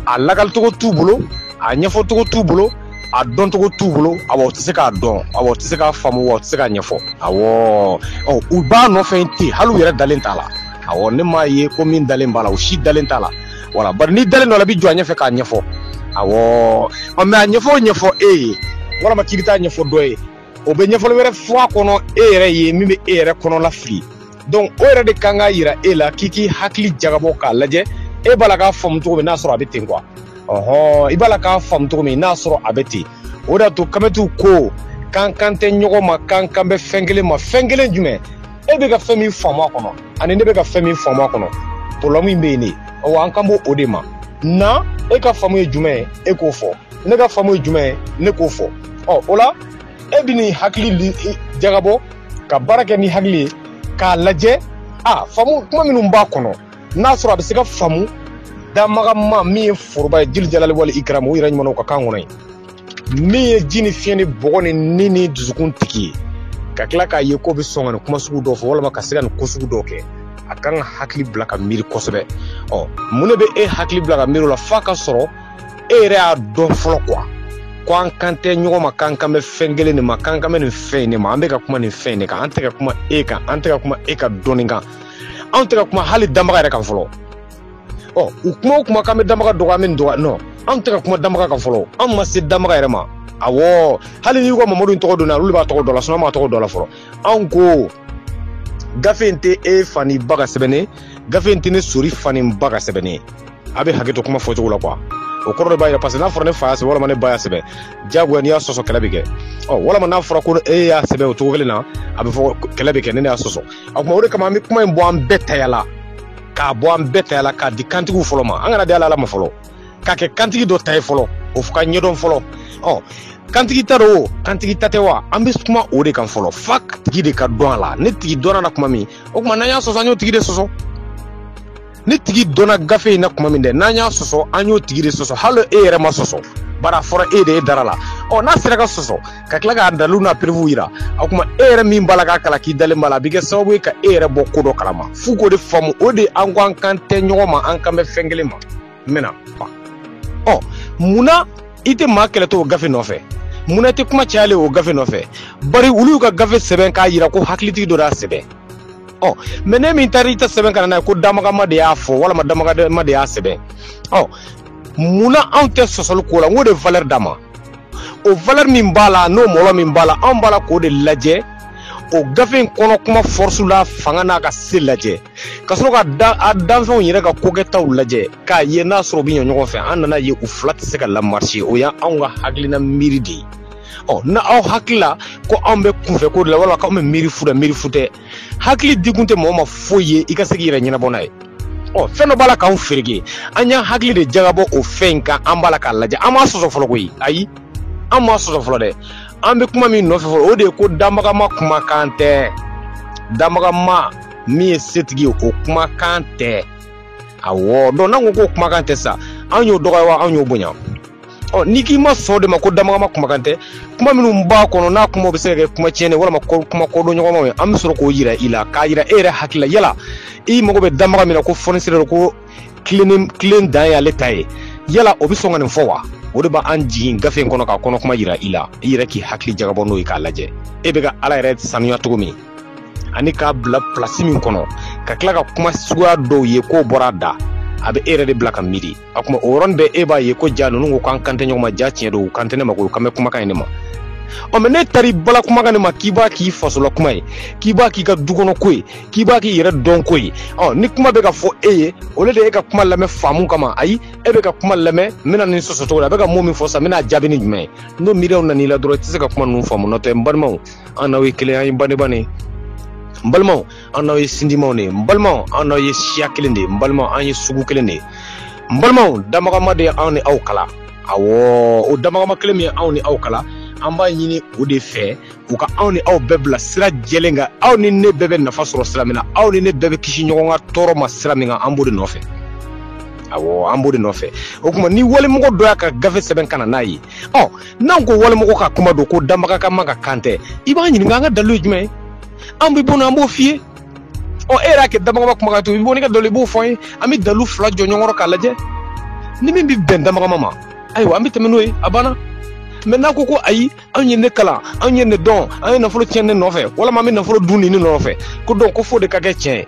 a lagalicogo t'u bolo a ɲɛfɔcogo t'u bolo a dɔncogo t'u bolo awɔ u tɛ se k'a dɔn awɔ u tɛ se k'a faamu wa u tɛ se k'a ɲɛfɔ awɔ ɔ u b'a nɔfɛ ten hali u yɛrɛ dalen t'a la awɔ ne m'a ye ko min dalen b'a la u si dalen t'a la voilà bari n'i dalen dɔ la i bɛ jɔ a ɲɛfɛ k'a ɲɛfɔ awɔ ɔ mais a ɲɛfɔ o ɲɛfɔ e ye walama k'i bɛ taa ɲɛfɔ dɔ ye o bɛ ɲɛfɔli wɛrɛ fɔ a kɔnɔ e yɛrɛ ye min bɛ e yɛrɛ kɔnɔlafili donc o yɛrɛ de kan k'a yira e la k'i k'i hakili jagabɔ k'a lajɛ e b'a la k'a faamu cogo min n'a sɔrɔ a bɛ ten quoi ɔhɔn i b'a la k'a faamu cogo min n'a sɔrɔ a bɛ ten o de y'a to kamɛtiw ko k'an kan tɛ ɲɔgɔn ma k'an kan bɛ fɛn kelen ma fɛn kelen jumɛn e bɛ ka fɛn min faamu a kɔnɔ ani ne bɛ ka fɛn min faamu a kɔnɔ problème in bɛ yen de ɔ an kan b'o o de ma na e ka faamu ye jumɛn ye e k'o fɔ ne ka faamu ye jumɛn ye ne k'o fɔ ɔ o la e bɛn'i hakili jagabɔ ka baara kɛ ni hakili ye k'a lajɛ a faamu kuma minnu b'a kɔnɔ n'a sɔrɔ a bɛ se ka faamu damagama min ye foroba ye jili jalali wali ikiramu o yɛrɛ ɲuman a ka kan kɔnɔ ye min ye ji ni fiɲɛ ni bɔgɔ ni ni ni dusukun tigi ye ka tila k'a ye k'o bɛ sɔn ka nin kuma sugu dɔ fɔ walima ka se ka nin ko sugu dɔ kɛ a kan ka hakili bila ka miiri kosɛbɛ ɔ mun de bɛ e hakili bila ka miiri o la f'a ka sɔrɔ e yɛrɛ y'a dɔn fɔlɔ kuwa ko an kan tɛ ɲɔgɔn ma k'an kan bɛ fɛn kelen de ma k'an kan bɛ nin fɛn in de ma an bɛ ka kuma nin fɛn in de kan an tɛ ka kuma e kan an tɛ ka kuma e ka dɔnni kan anw tɛ ka kuma hali danbaga yɛrɛ kan fɔlɔ ɔ u kuma o kuma k'an bɛ damaga dɔgɔ an bɛ nin dɔgɔ nɔ anw tɛ ka kuma damaga kan fɔlɔ anw ma se damaga yɛrɛ ma awɔ hali n'i ko mamadu in tɔgɔ donna olu b'a tɔgɔ don a la sinɔn an m'a tɔgɔ don a la fɔlɔ anw ko gafe in tɛ e fa n'i ba ka sɛbɛn ye gafe in tɛ ne sori fa ni ba ka sɛbɛn ye a bɛ hakɛ to kuma fɔcogo la kuwa o kɔrɔ de b'a yira paseke n'a fɔra ne fa y'a sɛbɛn walima ne ba y'a sɛbɛn diyagoya n'i y'a sɔsɔ kɛlɛ bɛ kɛ ɔ walima n'a fɔra ko e y'a sɛbɛn o cogo kelen na a bɛ fɔ kɛlɛ bɛ kɛ ni ne y'a sɔsɔ o kuma o de kama an bɛ kuma in bɔ an bɛɛ taya la k'a bɔ an bɛɛ taya la k'a di kantigiw fɔlɔ ma an kana di ala ma fɔlɔ k'a kɛ kantigi dɔ ta ye fɔlɔ o ka ɲɛdɔn fɔlɔ ɔ kantigi ta don o kantigi ta tɛ wa an bɛ kuma o de kan fɔlɔ f'a tigi de ka dɔn a la n'a tigi dɔnna na kuma min o tuma n'an y'a sɔsɔ an y'o tigi de sɔsɔ n'a tigi dɔnna gafe in na kuma min dɛ n'an y'a sɔsɔ an y'o tigi de sɔsɔ hali e yɛrɛ ma sɔsɔ bari a fɔra e de ye i dara a la ɔ n'a sera ka sɔsɔ ka tila k'a dalu n'a pirifu yira o kuma e yɛrɛ min b'a la k'a kalan k'i dalen b'a la a bɛ kɛ sababu ye ka e yɛrɛ bɔ ko dɔ kalama f'u k'o de faamu o de an ko an kan tɛ ɲɔgɔn ma an kan bɛ fɛn kelen ma n bɛna fa ɔ mun na i tɛ maa kɛlɛtɔ o gafe nɔfɛ mun na i tɛ kuma cayalen o gafe nɔfɛ bari olu y'u ka gafe sɛbɛn k'a yira ko hakilitigi dɔ y'a sɛbɛn ɔ mɛ ni min taara i ta sɛbɛn ka na n'a ye ko damagama de y'a fɔ walima damagama de y'a sɛbɛn ɔ mun na anw tɛ sɔsɔli ko la n k'o de valɛri d'a ma o valeur min b'a la n'o mɔlɔ min b'a la anw b'a la k'o de lajɛ o gafe in kɔnɔ kuma force la fanga n'a ka se lajɛ ka sɔrɔ k'a danfɛnw yɛrɛ ka kokɛtaw lajɛ k'a ye n'a sɔrɔ u bɛ ɲɛ ɲɔgɔn fɛ an nan'a ye u fila tɛ se ka lamarise o y'anw ka hakilina miiri de ye ɔ n'aw hakili la ko anw bɛ kunfɛ ko de la walima k'anw bɛ miiri fu la miiri fu tɛ hakili di kun tɛ mɔgɔ ma foyi ye i ka se k'i yɛrɛ ɲɛnabɔ n'a ye ɔ fɛn dɔ b'a la k'anw fereke an y'an hakili de jagabɔ o fɛn in kan an b'a la k'a lajɛ an m'a sɔsɔ fɔlɔ koyi ayi an m'a sɔsɔ fɔlɔ dɛ an bɛ kuma min nɔfɛ fɔlɔ o de ye ko danbagama kumakan tɛ danbagama min ye setigi ye o kumakan tɛ awɔ donc n'an ko k'o kumakan tɛ sa an y'o dɔgɔya wa an y'o bonya ɔ n'i k'i ma sɔn o de ma ko damagama kumakan tɛ kuma minnu b'a kɔnɔ n'a kuma bɛ se ka kɛ kuma tiɲɛnen walima kuma kɔdon ɲɔgɔnmaw ye an bɛ sɔrɔ k'o yira i la k'a yira e yɛrɛ hakili la yala i mago bɛ damaga min na ko fonisire don ko tilen dan ye ale ta ye yala o bɛ sɔn ka nin fɔ wa o de b'an jigin gafe in kɔnɔ k'a kɔnɔ kuma yira i la i yɛrɛ k'i hakili jagabɔ n'o ye k'a lajɛ e bɛ ka ala yɛrɛ sanuya cogo min ani k'a bila pilasi min kɔnɔ ka tila ka kuma suguya dɔw ye k'o bɔra a da a bɛ e yɛrɛ de bila ka miiri a kuma o yɔrɔnin bɛɛ e b'a ye ko ja ninnu ko k'an kan tɛ ɲɔgɔn ma ja tiɲɛ don u kan tɛ ne ma ko kan bɛ kumakan in ne ma ɔ mɛ n'e taara i bala kumakan in ma k'i b'a k'i fasola kuma ye k'i b'a k'i ka dukɔnɔ ko ye k'i b'a k'i yɛrɛ dɔn ko ye ɔ ni kuma bɛ ka fɔ e ye o de e ka kuma lamɛn faamu kama ayi e bɛ ka kuma lamɛn n bɛna nin sɔsɔ cogo di a bɛ ka mun min fɔ sa n bɛna jaabi ni jumɛn ye n'o miiriyaw nana i la dɔrɔn i tɛ se ka kuma ninnu faamu nɔtɛ n balimaw an n'aw ye kelen an ye badenmaw de n balimaw an n'aw ye sinjimaw de ye n balimaw an n'aw ye siya kelen de ye n balimaw an ye sugu kelen de ye n balimaw damagama de ye anw ni aw kala awɔ o damagama kelen min ye anw ni aw kala an b'a ɲini o de fɛ u ka anw ni aw bɛɛ bila sira jɛlen kan aw ni ne bɛɛ bɛ nafa sɔrɔ sira min na aw ni ne bɛɛ bɛ kisi ɲɔgɔn ka tɔɔrɔ ma sira min kan an b'o de nɔfɛ awɔ an b'o de nɔfɛ o kuma ni walimɔgɔ dɔ y'a ka gafe sɛbɛn ka na n'a ye ɔ n'an ko walimɔgɔ ka kuma don ko danbaga ka ma ka kan tɛ i b'an ɲininka an ka dalilu ye jumɛn ye an bɛ bɔ n'a an b'o f'i ye ɔ e yɛrɛ y'a kɛ danbagama kumakan don i bɛ bɔ n'i ka dalilu i b'o fɔ an ye an bɛ dalilu fila jɔ ɲɔgɔn kɔrɔ k'a lajɛ ni min bɛ bɛn danbagama ma ayiwa an bɛ tɛmɛ n'o ye a banna mɛ n'a ko ko ayi anw ye nin kalan anw ye nin dɔn an ye nafolo tiɲɛ nin nɔfɛ walama an bɛ nafolo dun nin ne nɔfɛ ko donc ko fo o de ka kɛ tiɲɛ ye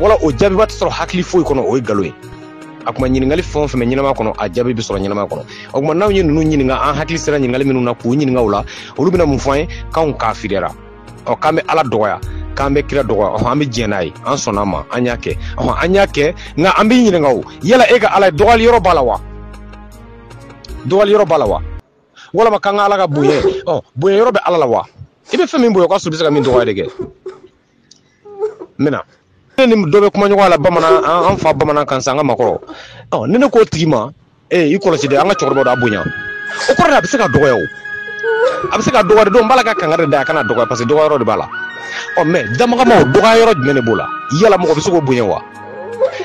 wala o jaabiba tɛ sɔrɔ hakili foyi kɔnɔ o ye nkalon ye a kuma ɲininkali fɛn o fɛn bɛ ɲɛnama kɔnɔ a jaabi bɛ sɔrɔ ɲɛnama kɔnɔ o kuma n'anw ye ninnu ɲininka an hakili sera ɲininkali minnu na k'u ɲininka o la olu bɛna mun fɔ an ye k'anw kafiriyara ɔ k'an bɛ ala dɔgɔya k'an bɛ kira dɔgɔya ɔhɔn an bɛ diɲɛ n'a ye an sɔnna a ma an y'a kɛ ɔhɔn an y'a kɛ nka an bɛ ɲininka o yala e ka ala in dɔgɔyali yɔrɔ b'a la wa dɔgɔyali yɔrɔ b'a la wa walama k'an ka ala ka bonya ɔ bonya yɔrɔ bɛ ala la wa i bɛ fɛn min bonya o ka sɔrɔ i bɛ se ka min dɔgɔya de kɛ n bɛna ne ni dɔ bɛ kuma ɲɔgɔn la bamanan an fa bamanan kan sa an ka maakɔrɔ ɔ ni ne k'o tigi ma ee i kɔlɔsi dɛ an ka cɛkɔrɔba don a bonya o kɔrɔ a bɛ se ka dɔgɔya o a bɛ se ka dɔgɔya donc n b'a la ka kangari da a kana dɔgɔya parce que dɔgɔya yɔrɔ de b'a la ɔ mɛ damagama o dɔgɔya yɔrɔ jumɛn de b'o la yala mɔgɔ bɛ se k'o bonya wa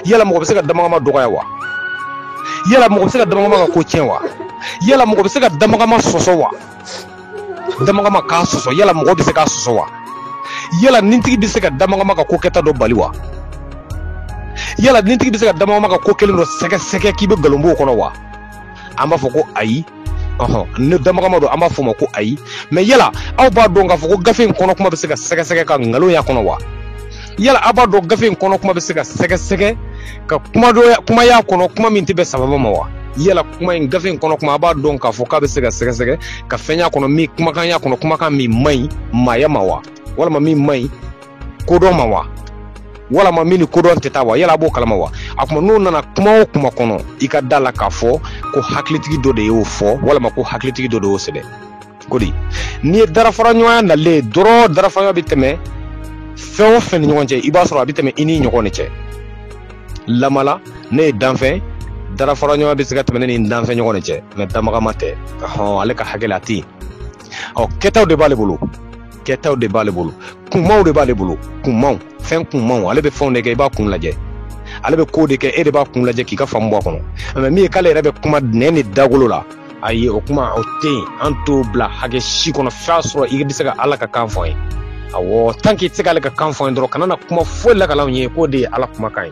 yala mɔgɔ bɛ se ka damagama dɔgɔya wa yala mɔgɔ bɛ se ka damagama ka ko tiɲɛ wa yala mɔgɔ bɛ se ka damagama sɔsɔ wa damagama k'a sɔsɔ yala mɔgɔ bɛ se k'a sɔsɔ wa yala nintigi bɛ se ka damagama ka ko kɛta dɔ bali wa yala nintigi bɛ se ka damagama ka ko kɛlen dɔ sɛgɛsɛgɛ k'i bɛ nkalon bɔ o kɔnɔ wa an b'a fɔ ko ayi ni damagama don an b'a fɔ o ma ko ayi mɛ yala aw b'a dɔn k'a fɔ ko gafe in kɔnɔ kuma bɛ se ka sɛgɛsɛgɛ ka nkalon y'a kɔnɔ wa yala aw b'a dɔn gafe in kɔnɔ kuma bɛ se ka sɛgɛsɛgɛ ka kuma y'a kɔnɔ kuma min tɛ bɛn sababa ma wa yala kuma in gafe in kɔnɔ kuma a b'a dɔn k'a fɔ k'a bɛ se ka sɛgɛsɛgɛ ka fɛn y'a kɔnɔ min kumakan y'a kɔnɔ kumakan min man ɲi maaya ma wa walama min man ɲi kodɔn ma wa walama min ni kodɔn tɛ taa wa yala a b'o kalama wa a kuma n'o nana kuma o kuma kɔnɔ i ka da la k'a fɔ ko hakilitigi dɔ de y'o fɔ walama ko hakilitigi dɔ de y'o sɛbɛn kodi n'i ye darafaraɲɔgɔnya nalen ye dɔrɔn darafaraɲɔgɔnya bɛ tɛmɛ fɛn o fɛn ni ɲɔgɔn cɛ i b'a sɔrɔ a bɛ tɛmɛ i ni ɲɔgɔn de cɛ lamala ne ye danfɛn darafaraɲɔgɔnya bɛ se ka tɛmɛ ne ni danfɛn ɲɔgɔn de cɛ mɛ damagama tɛ hɔn ale ka hakɛ la a tɛ yen ɔ kɛtaw de b'ale bolo kɛtaw de b'ale bolo kunmaw de b'ale bolo kunmaw fɛn kunmaw ale bɛ fɛnw de kɛ i b'a kun lajɛ ale bɛ kow de kɛ e de b'a kun lajɛ k'i ka faamu bɔ a kɔnɔ mɛ min ye k'ale yɛrɛ bɛ kuma nɛn ni dagolo la ayi o kuma o tɛ yen an t'o bila hakɛ si kɔnɔ f'a sɔrɔ i bɛ se ka ala ka kan fɔ an ye awɔ tan k'i tɛ se k'ale ka kan fɔ an ye dɔrɔn kana na kuma foyi lakal'anw ye k'o de ye ala kumakan ye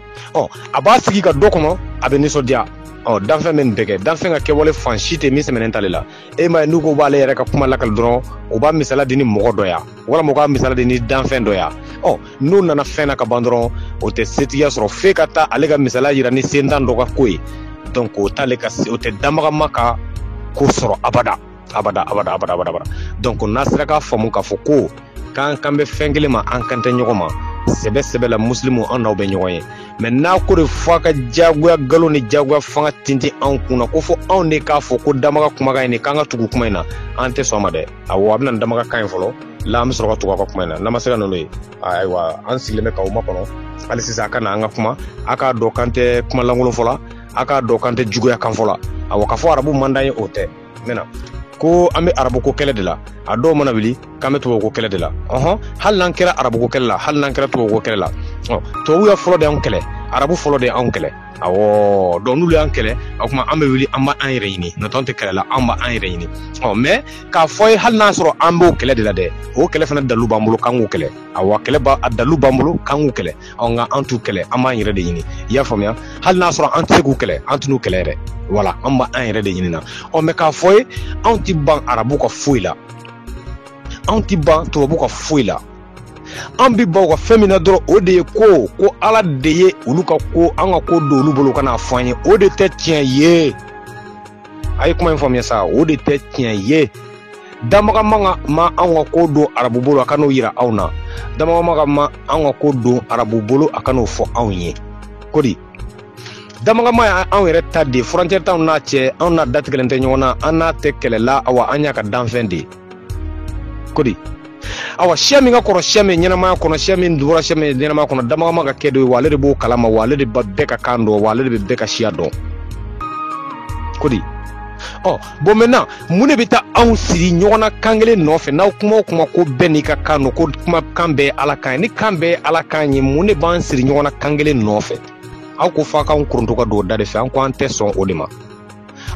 ɔ a b'a sigi ka dɔ kɔnɔ a bɛ nisɔndiya ɔ danfɛn bɛ nin bɛɛ kɛ danfɛn ka kɛwale fan si tɛ min sɛmɛnen t'ale la e m'a ye n'u ko u b'ale yɛrɛ ka kuma lakali dɔrɔn u b'a misala di ni mɔgɔ dɔ ya walima u k'a misala di ni danfɛn dɔ ya ɔ n'u nana fɛn na ka ban dɔrɔn o tɛ setigiya sɔrɔ f'e ka taa ale ka misala yira ni sentan dɔ ka ko ye donc o t'ale ka o tɛ damagama ka ko sɔrɔ abada abada abada abada abada abada donc n'a sera k'a faamu k'a fɔ ko k'an kan bɛ fɛn kelen ma an kan tɛ ɲɔgɔn ma sɛbɛ sɛbɛ la musilimu an n'aw bɛ ɲɔgɔn ye mɛ n'a ko de fɔ a ka jagoya galo ni jagoya fanga tintin anw kun na ko fo anw de k'a fɔ ko damaga kumakan in de k'an ka tugu kuma in na an tɛ sɔn ma dɛ awɔ a bɛ na ni damaga kan ye fɔlɔ la an bɛ sɔrɔ ka tugu a ka kuma in na n'a ma se ka n'olu ye ayiwa an sigilen bɛ k'aw makɔnɔ hali sisan a ka na an ka kuma a k'a dɔn k'an tɛ kuma lankolon fɔ la a k'a dɔn k'an tɛ juguya kan fɔ la awɔ k'a fɔ arabu man d'an ye o tɛ mɛ n'a ko an be arabuko kɛlɛ de la a dɔw mana wuli k'an be tubabuko kɛlɛ de la ɔhɔn hali n'an kɛra arabuko kɛlɛ la hali n'an kɛra tubabuko kɛlɛ la tubabu ya fɔlɔ de y'anw kɛlɛ arabu fɔlɔ de y'anw kɛlɛ awɔ donc n'olu y'an kɛlɛ o kuma an be wuli an b'an yɛrɛ ɲini n'o tɛ an tɛ kɛlɛ la an b'an yɛrɛ ɲini ɔ mɛ k'a fɔ ye hali n'a sɔrɔ an b'o kɛlɛ de la dɛ o kɛlɛ fana dalu b'an bolo k'an k'u kɛlɛ awa kɛlɛ a dalu b'an bolo k'an k'u kɛlɛ nka an t'u kɛlɛ an b'an yɛrɛ de ɲini i y'a faamuya hali n'a sɔrɔ an tɛ se k'u kɛlɛ an t'u kɛlɛ yɛrɛ wala an b'an yɛrɛ de ɲini na ɔ mɛ k'a fɔ ye anw ti ban arabu ka foyi la anw ti ban tubabu ka foyi la an bi ban u ka fɛn min na dɔrɔn o de ye ko ko ala de ye olu ka ko an ka ko don olu bolo ka n'a fɔ an ye o de tɛ tiɲɛ ye a ye kuma in faamuya sa o de tɛ tiɲɛ ye damagama ka ma anw ka ko don arabu bolo a ka n'o yira anw na damagama ka ma anw ka ko don arabu bolo a ka n'o fɔ anw ye kodi damagama ye anw yɛrɛ ta de furancɛ t'anw n'a cɛ anw n'a datigɛlen tɛ ɲɔgɔn na an n'a tɛ kɛlɛ la awa an y'a ka danfɛn de kodi awa siya min ka kɔrɔ siya min ɲɛnamaya kɔnɔ siya min dugura siya min ɲɛnamaya kɔnɔ damagama ka kɛ dɔ ye wa ale de b'o kalama wa ale de bɛ bɛɛ ka kan dɔn wa ale de bɛ bɛɛ ka siya dɔn kodi ɔ bon maintenant mun de bɛ taa anw siri ɲɔgɔn na kan kelen nɔfɛ n'aw kuma o kuma ko bɛɛ n'i ka kan don ko kuma kan bɛɛ ye ala kan ye ni kan bɛɛ ye ala kan ye mun de b'an siri ɲɔgɔn na kan kelen nɔfɛ aw ko f'a k'anw koronto ka don o da de fɛ an ko an tɛ sɔn o de ma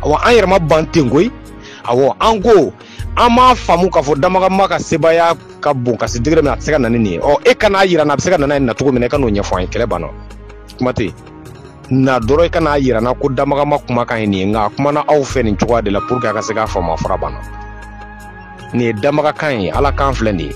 awa an yɛrɛ ma ban ten koyi awɔ an ko an m'a faamu k'a fɔ damagama ka sebaaya ka bon ka se degré min a tɛ se ka na ni nin ye ɔ e kan'a yira n na a bɛ se ka na n'a ye na cogo min na i ka n'o ɲɛfɔ an ye kɛlɛ banna kuma tɛ yen na dɔrɔn i kan'a yira n na ko damagama kumakan ye nin ye nka a kumana aw fɛ nin cogoya de la pour que a ka se k'a faamu a fura banna nin ye damagakan ye ala kan filɛ nin ye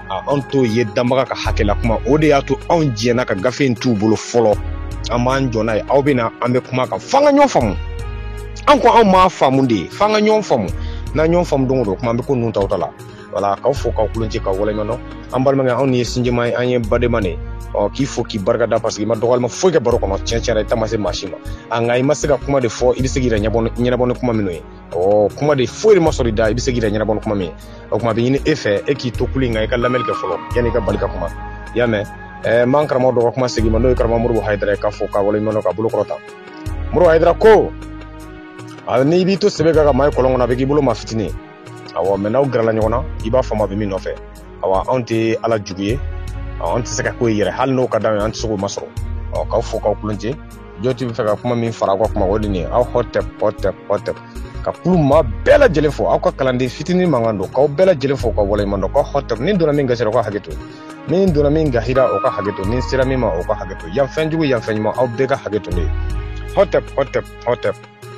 anw t'o ye damaga ka hakɛ la kuma o de y'a to anw diɲɛna ka gafe in t'u bolo fɔlɔ an b'an jɔ n'a ye aw bɛ na an bɛ kuma kan f'an ka ɲɔgɔn faamu an ko anw m'a faamu de f'an ka ɲɔgɔn faamu n'an ɲɔgɔn faamu don o don kuma an bɛ ko ninnu ta ta la voilà k'aw fo k'aw kulon ci k'aw waleɲuman dɔn an balimakɛ anw ye sinjima ye an ye badenma de ɔ k'i fo k'i barika da parce que i ma dɔgɔyalima foyi kɛ baro kɔnɔ tiɲɛ tiɲɛ na i da ma se maa si ma a nka i ma se ka kuma de fɔ i bɛ se k'i yɛrɛ ɲɛnabɔ ni kuma minnu ye ɔ kuma de foyi de ma sɔrɔ i da i bɛ se k'i yɛrɛ ɲɛnabɔ ni kuma min ye o kuma bɛ ɲini e fɛ e k'i to kulu in kan i ka lamɛnni kɛ fɔlɔ yanni i ka bali ka kuma i y'a mɛn ɛɛ m'an karamɔgɔ dɔ ka kuma segin ma n'o ye karamɔgɔ modibo hayidara ye k'a fo k'a waleɲuman dɔn k'a bolo kɔrɔta modibo hayidara ko n'i b'i to sebe kan ka maa ye kɔlɔn kɔnɔ a bɛ k'i bolo maa fitinin ye awɔ mais n'aw gɛrɛla ɲɔgɔn na i b'a faamu a bɛ min nɔfɛ awa anw tɛ ala jugu ye anw tɛ se ka k'o ye yɛrɛ hali n'o ka d'anw ye an tɛ se k'o masɔrɔ ɔ k'aw fo k'aw kulon jɔti bɛ fɛ ka kuma min fara aw ka kuma o de ye aw hɔtɛp hɔtɛp hɔtɛp ka kulu maa bɛɛ lajɛlen fo aw ka kalanden fitinin mankan don k'aw bɛɛ lajɛlen fo k'aw waleɲuman dɔn k'aw hɔtɛp ni donna min gasi ra o ka hakɛ to ni donna min gasi ra o ka hakɛ to ni sera min ma o ka hakɛ to yan fɛn jugu yan fɛn ɲuman aw bɛɛ ka hakɛ to ne ye hɔtɛp hɔtɛp hɔtɛp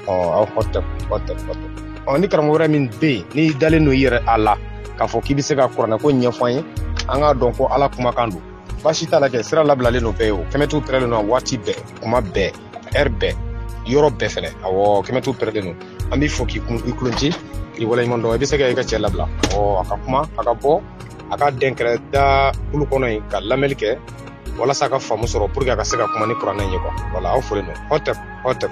aw hɔtɛp hɔtɛp hɔtɛp ɔ ni karamɔgɔ wɛrɛ min bɛ yen n'i dalen don i yɛrɛ la k'a fɔ k'i bɛ se ka kuranɛko ɲɛfɔ an ye an k'a dɔn ko ala kumakan don baasi t'a la kɛ sira labilalen don bɛɛ ye o kɛmɛtu pɛrɛlen don waati bɛɛ kuma bɛɛ ɛri bɛɛ yɔrɔ bɛɛ fɛnɛ awɔ kɛmɛtu pɛrɛlen don an b'i fo k'i kulon ci k'i waleɲuman dɔn i bɛ se ka i ka cɛ labila ɔ a ka kuma a ka bɔ a ka dɛnkɛrɛ da kulu kɔnɔ yen ka lamɛli kɛ walasa a ka faamu sɔrɔ pour que a ka se ka kuma ni kuranɛ in ye quoi voilà aw folen don hɔtɛp hɔtɛp